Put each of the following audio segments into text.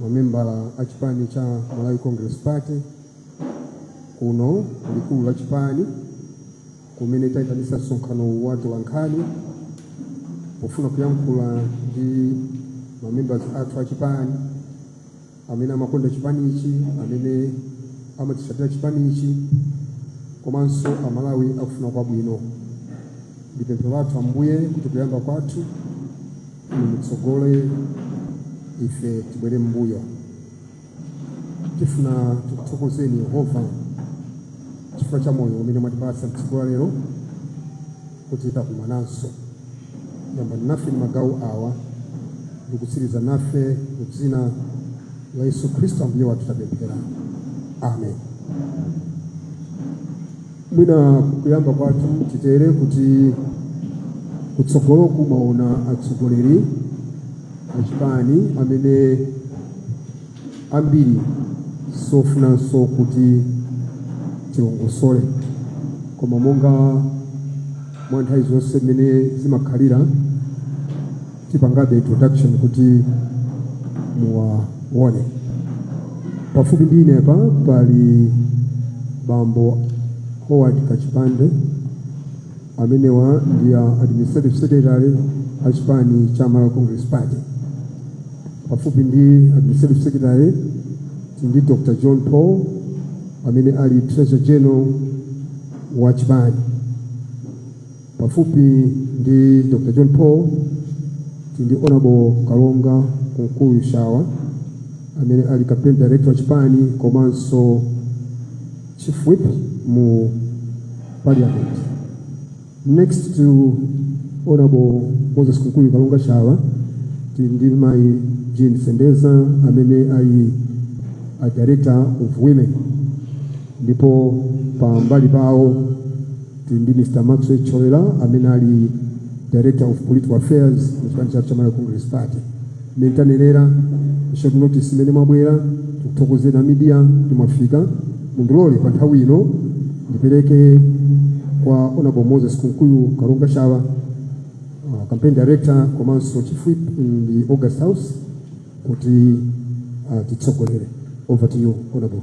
mamembala a chipani cha Malawi Congress Party kuno likulu la chipani kumene tayitanisa msonkhano wa atolankhani pofuna kuyankhula ndi mamembers athu a chipani amene amakonda chipanichi amene amatisatira chipanichi komanso amalawi akufuna kwabwino ndi pemphero lathu ambuye kuti kuyamba kwathu mutsogole ife tibwere m'mbuyo tifuna tikuthokozeni yehova chifukwa cha moyo umene mwatipatsa mtsiku la lero kuti takumananso yamba nafe ndi magawo awa ndikutsiriza nafe mu dzina la yesu khristu ambuye wathu tapemphera amen mwina kuyamba kwathu titere kuti kutsogoloku mwaona atsogoleri achipani amene ambiri sofunanso kuti tiwalongosole koma monga mwa nthawi zonse mmene zimakhalira tipangabe introduction kuti muwaone pafupi ndi ine apa pali bambo howard kachipande amenewa ndi a administrative secretary a chipani cha malawi congress party pafupi ndi administrative secretary ndi dr john paul amene ali treasurer general wa chipani pafupi ndi dr john paul tili ndi honorable kalonga kunkuyu shawa amene ali campaign director wa chipani komanso chief whip mu parliament next to honorable moses kunkuyu kalonga shawa tili ndi mayi jean sendeza amene ali a director of women ndipo pambali pawo tili ndi mr maxwell thyolera amene ali director of political affairs mu chipani chathu cha malawi congress party mmene tanenera short notice imene mwabwera tikuthokozeni a media kuti mwafika mundilole pa nthawi ino ndipereke kwa honorable moses kunkuyu kalonga shawa uh, campaign director komanso chief whip in the august house kuti atitsogolere over to you honorable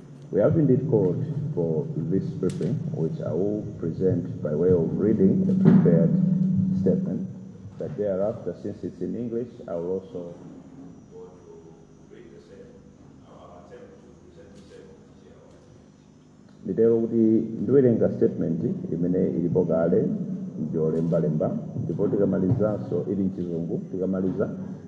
We have indeed called for this briefing, which I will present by way of reading a prepared statement. But thereafter, since it's in English, I will also nditero kuti ndiwerenga statement imene ilipo kale ndiyolembalemba ndipo tikamalizanso ili mchizungu tikamaliza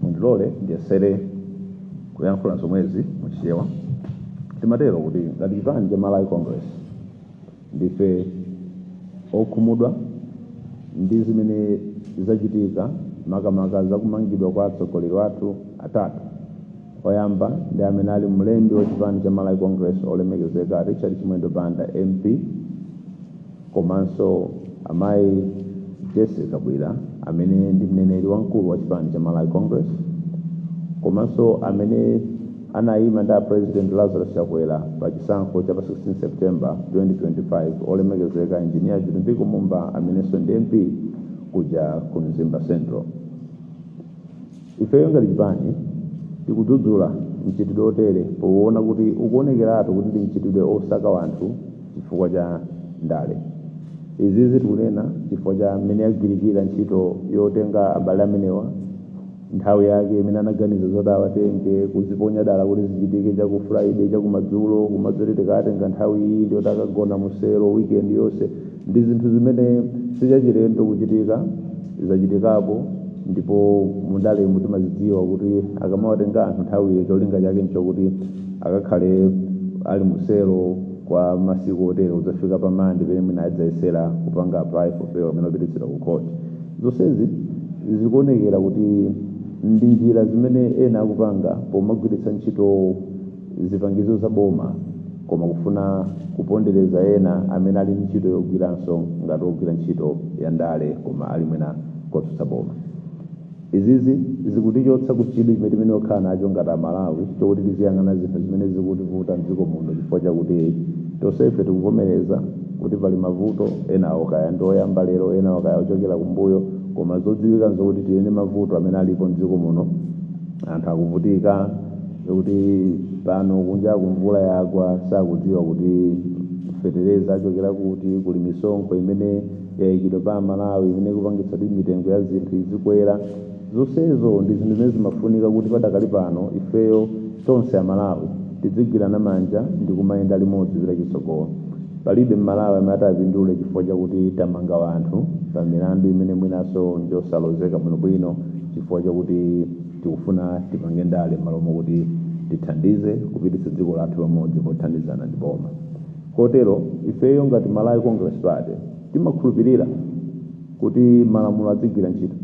Mundilole ndiyesere kuyankhula zomwezi mu Chichewa. Timatero kuti ngati chipani cha Malawi Congress ndife okhumudwa ndi zimene zachitika makamaka za kumangidwa kwa atsogoleri athu atatu. Oyamba ndi amene ali mlembi wa chipani cha Malawi Congress olemekezeka Richard Chimwendo Banda MP, komanso amayi Jessie Kabwila amene ndi mneneri wamkulu wa chipani cha Malawi Congress komanso amene anayima ndi a President Lazarus Chakwera pa chisankho cha pa 16 September 2025 olemekezeka engineer Vitumbiko Mumba amenenso ndi MP kuja ku Mzimba Central. Ifeyo ngati chipani tikudzudzula mchitidwe otere pouona kuti ukuonekeratu kuti ndi mchitidwe osaka wanthu chifukwa cha ndale. Izizi tikunena chifukwa cha mmene yagwirikira ntchito yotenga abale amenewa nthawi yake imene anaganiza zoti awatenge, kuziponya dala kuti zichitike cha ku Friday, cha kumadzulo, kumati tikawatenga nthawi iyi ndiyoti akagona mu selo weekend yonse. Ndi zinthu zimene si chachilendo kuchitika, zachitikapo ndipo mu ndalemu timazidziwa kuti akamawatenga anthu nthawiyo cholinga chake nchokuti akakhale ali mu selo kwa masiku otere kudzafika pa Mande pamene mwina adzayesera kupanga apply for bail kapena kupititsidwa ku court. Zonsezi zikuonekera kuti ndi njira zimene ena akupanga pomagwiritsa ntchito zipangizo za boma koma kufuna kupondereza ena amene ali ndi ntchito yogwiranso ngati ogwira ntchito ya ndale koma ali mwina kotsutsa boma izizi zikutichotsa ku chidwi chimene timayenera kukhala nacho ngati amalawi chokuti tiziyang'ana zinthu zimene zikutivuta mdziko muno chifukwa chakuti tonsefe tikuvomereza kuti pali mavuto enawo kaya ndi oyamba lero enawo kaya ochokera kumbuyo koma zodziwika nzokuti tili ndi mavuto amene alipo mdziko muno anthu akuvutika kuti pano kunjaku mvula yagwa sakudziwa kuti fetereza achokera kuti kuli misonkho imene yayikidwa pa amalawi imene ikupangitsa kuti mitengo ya zinthu izikwera zonsezo ndi zinthu zimene zimafunika kuti padakali pano ifeyo tonse amalawi tidzigwirana manja ndi kumayenda limodzi kupita chitsogolo palibe mmalawi amene atapindule chifukwa chakuti tamanga wanthu pa milandu imene mwinanso njosalozeka bwinobwino chifukwa chakuti Tikufuna tipange ndale m'malo mokuti tithandize kupititsa dziko lathu pamodzi pothandizana ndi boma. Kotero, ifeyo ngati Malawi Congress Party timakhulupirira kuti malamulo adzigwira ntchito.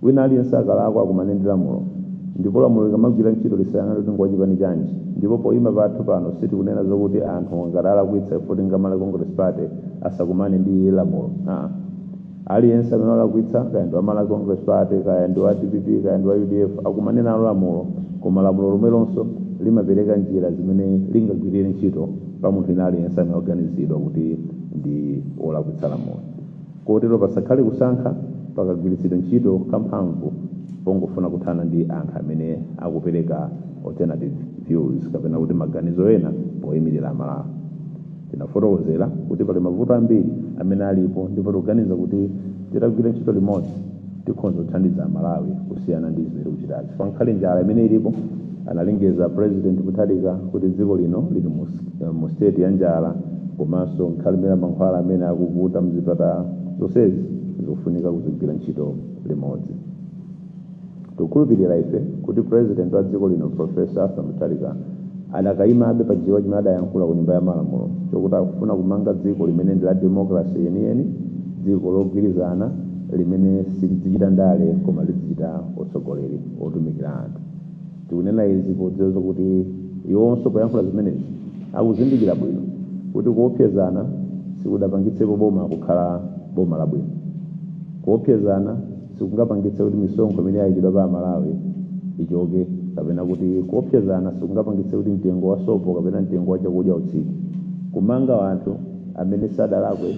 Wina aliyense akalakwa akumane ndi lamulo. Ndipo lamulo likamagwira ntchito lisayang'ane kuti ndi wa chipani chanji. Ndipo poyima pathu pano sitikunena zokuti anthu ngati alakwitsa ifeyo ti ndi a Malawi Congress Party asakumane ndi lamulo. Haa. aliyense amene walakwitsa kaya ndi wa malawi congress party kaya ndi wa dpp kaya ndi wa udf akumane nalo lamulo koma lamulo lomwelonso limapereka njira zimene lingagwirire ntchito pa munthu wina aliyense amene waganizidwa kuti ndi wolakwitsa lamulo kotero pasakhale kusankha pakagwiritsidwa ntchito kamphamvu pongofuna kuthana ndi anthu amene akupereka alternative views kapena kuti maganizo ena poyimirira amalawi Tinafotokozera kuti pali mavuto ambiri amene alipo ndipo tikuganiza kuti titagwira ntchito limodzi tikhonza kuthandiza Amalawi kusiyana ndi zimene tikuchitazi. Pankhani ya njala imene ilipo, analengeza President Mutharika kuti dziko lino lili mu state ya njala komanso nkhani imene ya mankhwala amene akuvuta mzipatala, zonsezi zikufunika kuzigwira ntchito limodzi. Tikukhulupirira ife kuti President wa dziko lino Prof. Arthur Mutharika adakayimabe pa chichewa chimene adayankhula ku nyumba ya malamulo chokuti akufuna kumanga dziko limene ndi la democracy yeniyeni, dziko logwirizana limene silidzichita ndale koma lidzichita utsogoleri otumikira anthu. Tikunena izi podziwa zokuti iwonso poyankhula zimenezi akuzindikira bwino kuti kuopsezana sikudapangitsepo boma kukhala boma labwino. Kuopsezana. sikungapangitse kuti misonkho imene yayikidwa pa amalawi ichoke kapena kuti kuopsezana sikungapangitse kuti mtengo wa sopo kapena mtengo wa chakudya utsike kumanga anthu amene sadalakwe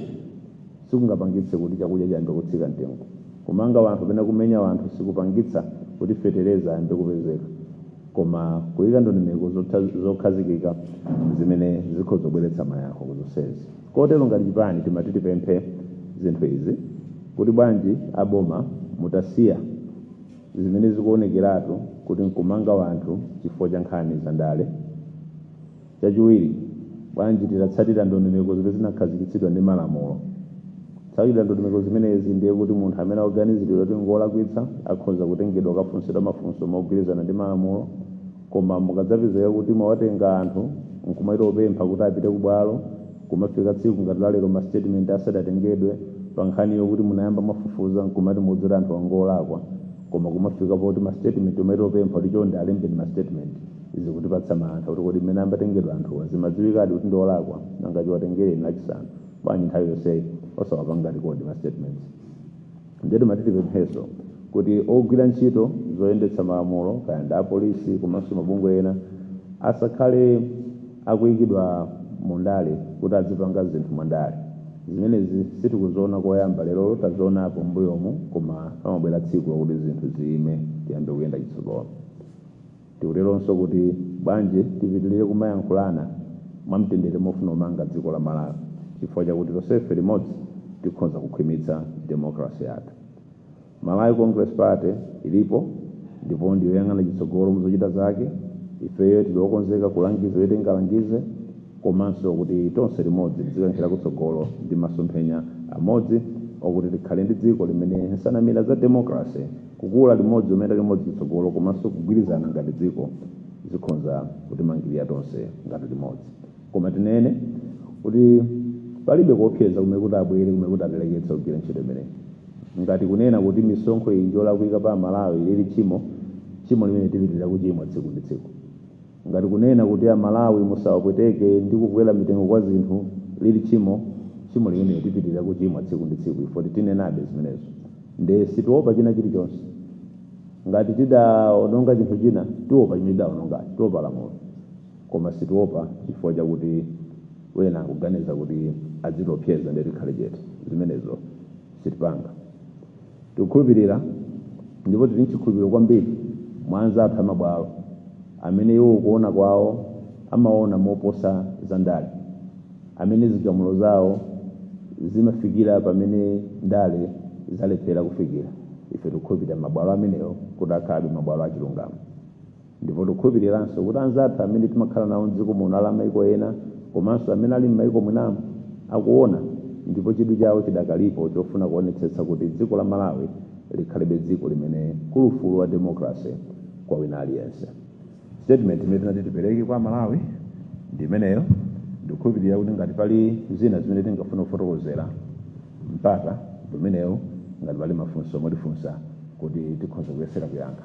sikungapangitse kuti chakudya chiyambe kutsika mtengo kumanga wanthu kapena kumenya wanthu sikupangitsa kuti fetereza ayambe kupezeka koma kuyika ndondomeko zokhazikika zimene zikhoza kubweretsa mayankho ku zonsezi Kotero ngati chipani timati tipemphe zinthu izi kuti bwanji a boma mutasiya zimene zikuonekeratu kuti nkumanga wanthu chifukwa cha nkhani za ndale. Chachiwiri, bwanji titatsatira ndondomeko zimene zinakhazikitsidwa ndi malamulo. Kutsatira ndondomeko zimenezi ndiye kuti munthu amene akuganiziridwa kuti ngolakwitsa akhoza kutengedwa kukafunsidwa mafunso mogwirizana ndi malamulo. koma mukadzapezeka kuti mwawatenga anthu nkumachita kupempha kuti apite kubwalo kumafika tsiku ngati lalero ma statement asadatengedwe pa nkhani yokuti munayamba mwafufuza nkumati mukudzera anthu angolakwa koma kumafika poti ma statement umachita kupempha kuti chonde alembeni ma statement zikutipatsa mantha kuti kodi mmene ambatengedwa anthuwa zimadziwikadi kuti ndiolakwa nanga chiwatengereni lachisanu bwanji nthawi yonseyi osawapanga record ma statements ndiye timati tipemphenso kuti ogwira ntchito zoyendetsa malamulo kaya ndi apolisi komanso mabungwe ena asakhale akuyikidwa mu ndale kuti azipanga zinthu mwa ndale zimenezi sitikuziona koyamba lero tazionapo mbuyomu koma pamabwera tsiku lakuti zinthu ziyime tiyambe kuyenda chitsogolo Tikuteronso kuti bwanji tipitilire kumayankhulana mwamtendere mofuna kumanga dziko la Malawi chifukwa chakuti tonsefe limodzi tikhonza kukhwimitsa democracy yathu. Malawi Congress Party ilipo ndipo ndiyoyang'ana chitsogolo muzochita zake, ifeyo tili okonzeka kulangiza poti tingalangize komanso kuti tonse limodzi tizikankhira kutsogolo ndi masomphenya amodzi okuti tikhale ndi dziko limene nsanamira za democracy Kukula limodzi, kumema limodzi chitsogolo komanso kugwirizana ngati dziko zikhonza kutimangilira tonse ngati limodzi. Koma tinene kuti palibe kuopseza kumene kuti abwere kumene kuti atileketse kugwira ntchito imeneyi. Ngati kunena kuti misonkho iyi njolakwika pa Amalawi lili tchimo, tchimo limeneli tipitilira kuchimwa tsiku ndi tsiku. ngati kunena kuti amalawi musawapweteke ndi kukwera mitengo kwa zinthu lili tchimo tchimo limenelo tipitirira kuchimwa tsiku ndi tsiku ife titinenabe zimenezo nde sitiopa china chilichonse ngati tidaononga chinthu china tiopa chimene tidaonongacho tiopa lamulo koma sitiopa chifukwa chakuti wena akuganiza kuti adzitiopseza nde tikhale chete zimenezo sitipanga Tikukhulupirira ndipo tili n'chikhulupiriro kwambiri mwa anzathu amabwalo amene iwo kuona kwawo amaona moposa za ndale, amene zigamulo zawo zimafikira pamene ndale zalephera kufikira. Ife tikukhulupirira mabwalo amenewo kuti akhalabe mabwalo a chilungamo. ndipo tikukhulupiriranso kuti anzathu amene timakhala nawo m'dziko muno ali amaiko ena komanso amene ali m'maiko mwinamu akuona ndipo chidwi chawo chidakalipo chofuna kuonetsetsa kuti dziko la malawi likhalebe dziko limene kuli ufulu wa democracy kwa wina aliyense statement imene tinati tipereke kwa amalawi ndi imeneyo ndikukhulupirira kuti ngati pali zina zimene tingafuna kufotokozera mpata umenewu ngati pali mafunso omwe mutifunsa kuti tikhoza kuyesera kuyankha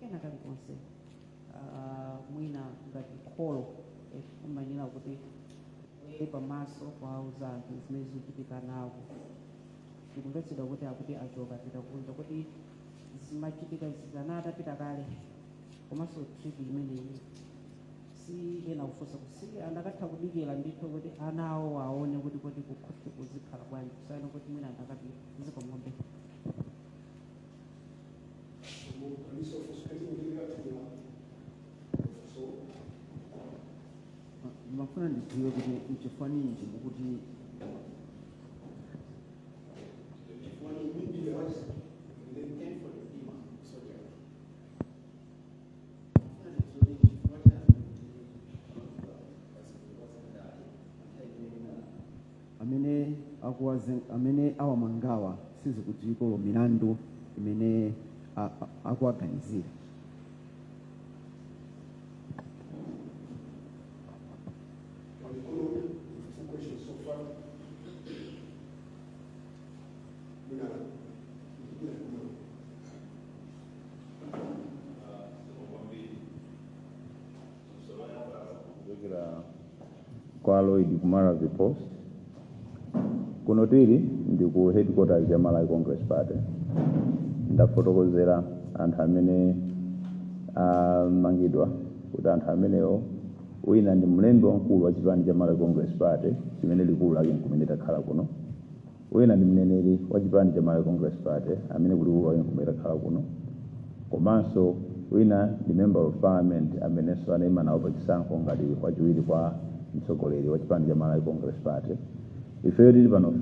kena kalikonse Ah, mwina ngati kholo eh, umanena kuti e pamaso kuwauza anthu zimene zikuchitika nawo tikumvetsedwa kuti akuti achoka pita kunja kuti zimachitika zizana atapita kale komanso tripi imeneyi si ena kufunsa kusi anakatha kudikira ndithu kuti ana awo aone kuti kuti kukhosi kuzikhala bwanji kusiyana kuti mwina anthu akakhala pakati zikomombe ndimafuna ndidziwe kuti nchifukwa ninji mukuti amene akuwazen- amene awamangawa sizikudziwiko milandu imene a- a- akuwaganizira kuchokera kwa lloyd kumara the post kuno tili ndi ku headquarters ya malawi congress party ndafotokozera anthu amene amangidwa kuti anthu amenewo wina ndi mlembi wamkulu wa chipani cha malawi congress party chimene likulu lake nkumene takhala kuno Wina ndi mneneri wa chipani cha Malawi Congress Party amene kulikulu lake nkumene takhala kuno komanso wina ndi member of parliament amenenso anaima nawo pa chisankho ngati wachiwiri kwa mtsogoleri wa chipani cha Malawi Congress Party ifeyo tili pano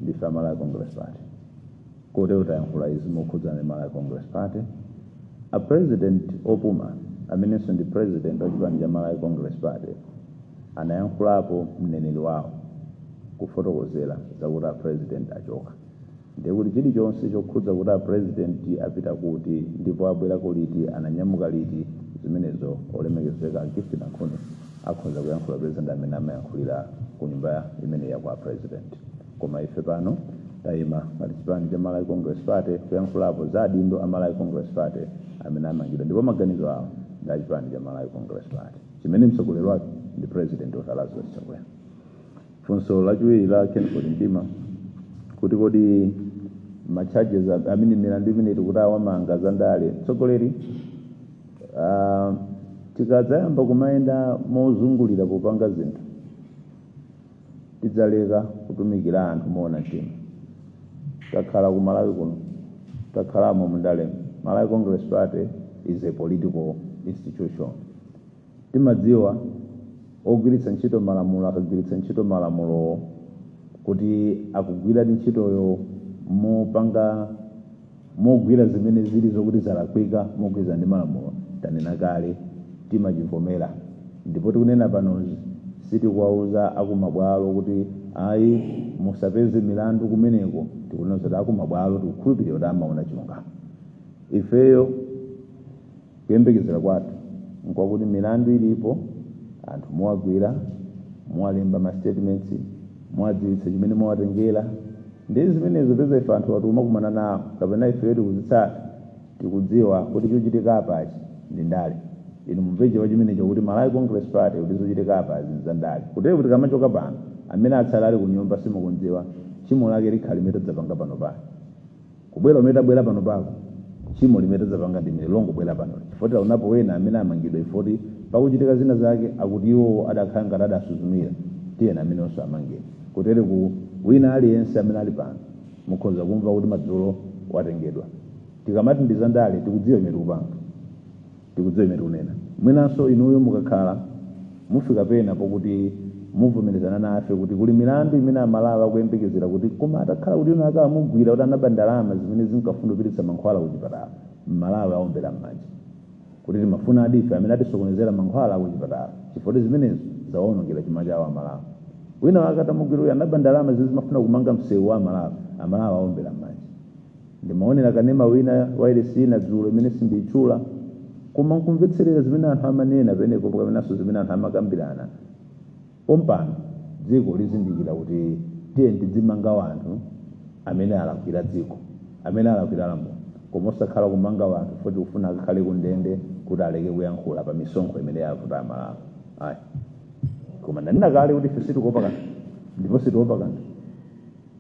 ndife a Malawi Congress Party kotero tayankhula izi mokhudzana ndi Malawi Congress Party a president opuma amenenso ndi president wa chipani cha Malawi Congress Party anayankhulapo mneneri wawo kufotokozera zakuti a president achoka ndiye kuti chilichonse chokhudza kuti a president apita kuti ndipo abwerako liti ananyamuka liti zimenezo olemekezeka a gift nankhuni akhoza kuyankhulapo poti ndi amene amayankhulira ku nyumba imene ya kwa president koma ife pano tayima ngati chipani cha malawi congress party kuyankhulapo za adindo a malawi congress party amene amangidwa ndipo maganizo awo ndi achipani cha malawi congress party chimene mtsogoleri wake ndi president dokotala lazarus chakwera funso lachiwiri la kenford mdima kuti kodi ma charges a- amene milandu imene tikuti awamanga za ndale mtsogoleri ah, tikadzayamba kumayenda mozungulira popanga zinthu tidzaleka kutumikira anthu moona mtima takhala ku malawi kuno takhalamo mundalemu malawi congress party is a political institution timadziwa ogwiritsa ntchito malamulo akagwiritsa ntchito malamulowo kuti akugwiradi ntchitoyo mopanga mogwira zimene zili zokuti zalakwika mogwirizana ndi malamulo tanena kale timachivomera ndipo tikunena panozi sitikuwauza akumabwalo kuti ayi musapeze milandu kumeneko tikunena zoti akumabwalo tikukhulupirira kuti amaona chilungamo ifeyo Kuyembekezera kwathu nkwakuti milandu ilipo anthu muwagwira, muwalemba ma statements, muwadziwitsa chimene mwawatengera ndi zimenezo poza ife anthuwa tikumakumana nawo kapena ifeyo tikuzitsata tikudziwa kuti chochitika apachi ndi ndale. Inu mumve chabe chimenecho kuti Malawi Congress Party kuti zochitika apazi ndi zandale. Kutereku tikamachoka pano amene atsale ali kunyumba simukudziwa tchimo lake likhale limene tadzapanga panopa. kubwera kumene tabwera panopa tchimo limene tadzapanga ndi limene longobwera pano chifukwa taonapo wena amene amangidwa chifukwa choti pakuchitika zina zake akuti iwowo adakhala ngati adasuzumira tiyeni ameneyonso amangidwa kutereku wina aliyense amene ali pano mukhoza kumva kuti madzulo watengedwa tikamati ndi zandale tikudziwa chimene tikupanga Tikudziwa chimene tikunena. Mwinanso inuyo mukakhala mufika pena pokuti muvomerezana nafe kuti kuli milandu imene Amalawi akuyembekezera kuti koma atakhala kuti wina wake amugwira kuti anaba ndalama zimene zinkafuna kupititsa mankhwala kuchipatala, Mmalawi awombera m'manja kuti timafunadi ife amene atisokonezera mankhwala kuchipatala chifukwa kuti zimenezo zawawonongera chuma chawo Amalawi. Wina wake atamugwira kuti anaba ndalama zimene zimafuna kumanga msewu wa Amalawi, Amalawi awombera m'manja. Ndimaonera kanema wina wailesi ina dzulo imene sindiitchula, koma n'kumvetserera zimene anthu amanena pamenepo kapenanso zimene anthu amakambirana. Pompano dziko lizindikira kuti tiyeni tidzimanga anthu amene alakwira dziko, amene alakwira lamulo, koma osakhala kumanga anthu chifukwa tikufuna akakhale kundende kuti aleke kuyankhula pa misonkho imene yavuta Amalawi. Ayi. Koma ndanena kale kuti ife sitikuopa kanthu ndipo sitiopa kanthu.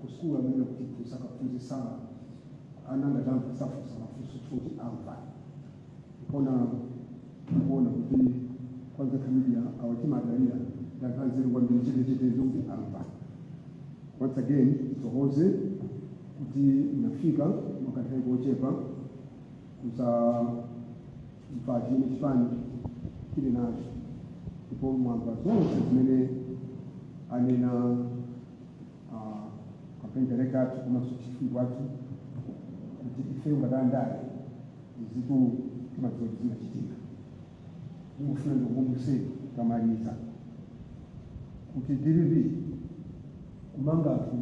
kusukulu amene kutiphunzitsa kaphunzitsana ana anga akati amva safunsa mafunso choti amva koma kuona kuti kwanza familia awa timadalira ndadziwa kwambiri chetecheteyo kuti amva once again ndithokoze kuti munafika mwakanthawi kochepa kuzamva chimene chipani chili nacho ndipo mwamva zonse zimene anena ah, campaign director athu komanso chief whip athu kuti ifeyo ngati andale izitu timadziwa kuti zimachitika ndikufuna ndikukumbutseni pomaliza kuti mcp kumanga anthu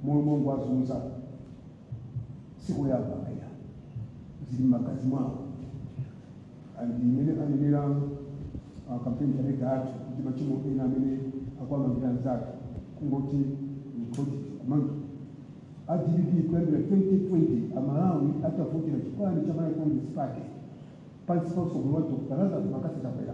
momwemo mongowazunza sikoyamba ayi zili m'magazi mwawo and mmene anenera uh, campaign director athu kuti machimo ena amene akuwamangira anzake kungoti ni project kumanga a dpp kuyambira 2020 amalawi atavotera chipani cha malawi congress party pansi pa utsogoleri wa dr lazarus mccarthy chakwera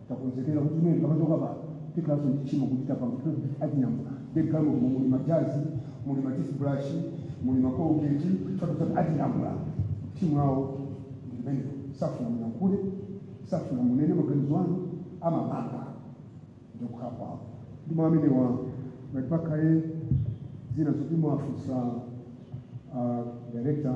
takonzekera kuti imene tikamachoka pa tikhalanso ndi tchimo kuti tapanga kuti atinyamula ndi galimoto mu muli majazi muli matoothbrush muli macolgate chotototi atinyamula timu yawo ndi limenelo safuna muyankhule safuna munene maganizo anu amamanga ndi kukhala kwawo ndi mwa amenewa ngati pakhale zina zoti mwafunsa ah, director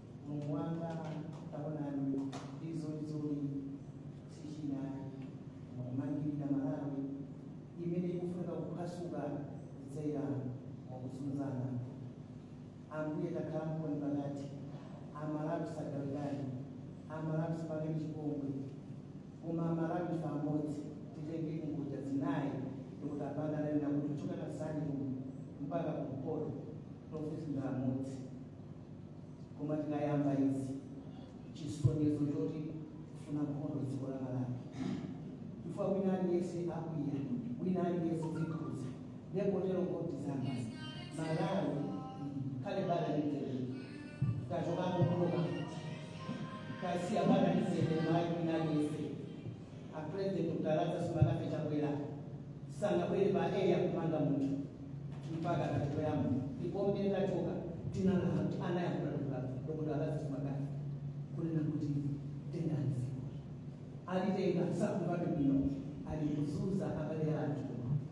mulungu wanga taonani izo izoli sichinali mukumangirira malawi imene ikufunika kuphwasuka kudzera mukuzunzana ambuye takhala mboni pakati amalawi sagawikani amalawi sipangeni chipongwe koma amalawi ife amodzi titenge kungodya zinayi ndikuti a Banda ananena kuti kuchoka ku Nsanje kuno mpaka kumpoto tonsefe ndi amodzi Koma tikayamba izi chisonyezo choti kufuna nkhondo dziko la Malawi chifukwa wina aliyense akwiya wina aliyense zimkhudza nde kotero kuti anzanga Malawi kale bala litele tachokapo kuloka tasiya bala litele mayi wina aliyense a president Dr Lazarus McCarthy Chakwera sanabwere pa area kumanga munthu mpaka atatoyamba ndipo mmene tachoka tinalaa anayankhula Dr Dr Lazarus McCarthy kunena kuti tengani dziko alitenga sakumvabe bwino alikuzunza abale athu